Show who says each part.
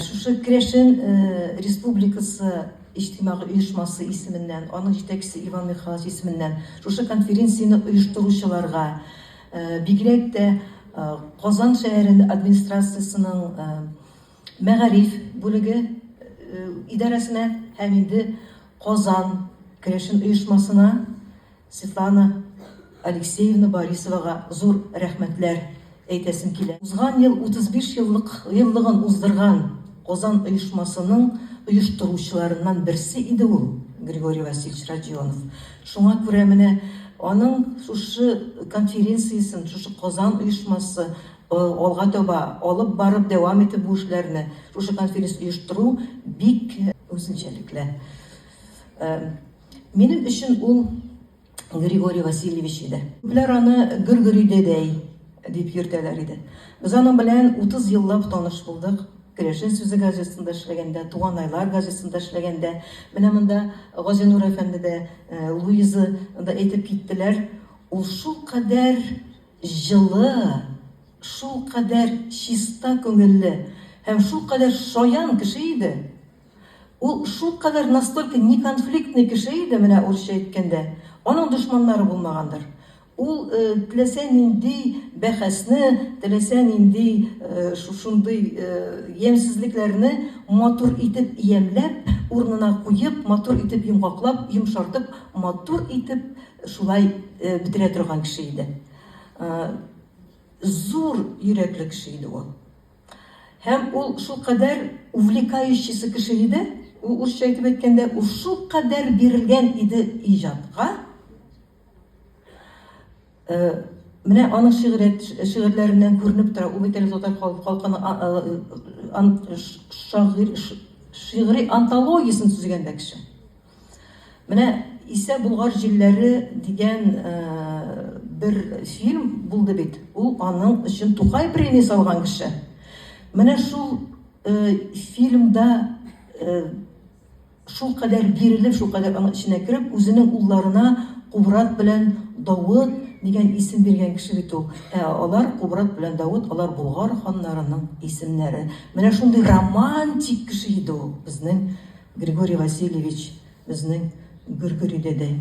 Speaker 1: Шушы керәшен республикасы иҗтимагый оешмасы исеменнән, аның җитәкчесе Иван Михайлович исеменнән шушы конференцияне оештыручыларга, бигрәк тә Казан шәһәре администрациясенең мәгариф бүлеге идарәсенә һәм инде Казан керәшен оешмасына Светлана Алексеевна Борисовага зур рәхмәтләр әйтәсем килә. Узган ел 35 еллык еллыгын уздырган Казан оешмасының оештыручыларыннан берсе иде ул Григорий Васильевич Родионов. Шуңа күрә менә аның шушы конференциясен, шушы Казан оешмасы алга таба алып барып дәвам итеп бу эшләрне, шушы конференцияне оештыру бик үзенчәлекле. Минем өчен ул Григорий Васильевич иде. Күпләр аны Гөргөри дәдәй дип йөртәләр иде. Без аның белән 30 еллап таныш булдык. Керәшен сүзе газетасында эшләгәндә, Туган айлар газетасында эшләгәндә, менә монда Газинур әфәнде дә, э, Луиза да әйтеп киттеләр, ул шул кадәр җылы, шул кадәр чиста күңелле һәм шул кадәр шаян кеше иде. Ул шулкадәр настолько неконфликтный кеше иде, менә урысча әйткәндә, аның дошманнары булмагандыр. Ул теләсә нинди бәхәсне, теләсә нинди шушындый ямьсезлекләрне матур итеп ямьләп, урынына куеп, матур итеп йомгаклап, йомшартып, матур итеп шулай бетерә торган кеше иде. Зур йөрәкле кеше иде ул. Һәм ул шулкадәр увлекающийсы кеше иде, ул урысча әйтеп әйткәндә, ул шулкадәр бирелгән иде иҗатка, менә аның шигърият шигырьләреннән күренеп тора, ул бит әле татар халкының шагыйрь шигъри антологиясен төзегән дә кеше. Менә Исә Болгар җилләре дигән бер фильм булды бит, ул аның өчен Тукай премия салган кеше. Менә шул фильмда шулкадәр бирелеп, шулкадәр аның эченә кереп, үзенең улларына Кубрат белән Давыт дигән исем биргән кеше бит ул. Ә алар, Кубрат белән Давыт, алар Болгар ханнарының исемнәре. Менә шундый романтик кеше иде ул безнең Григорий Васильевич, безнең Гөргөри дәдәй.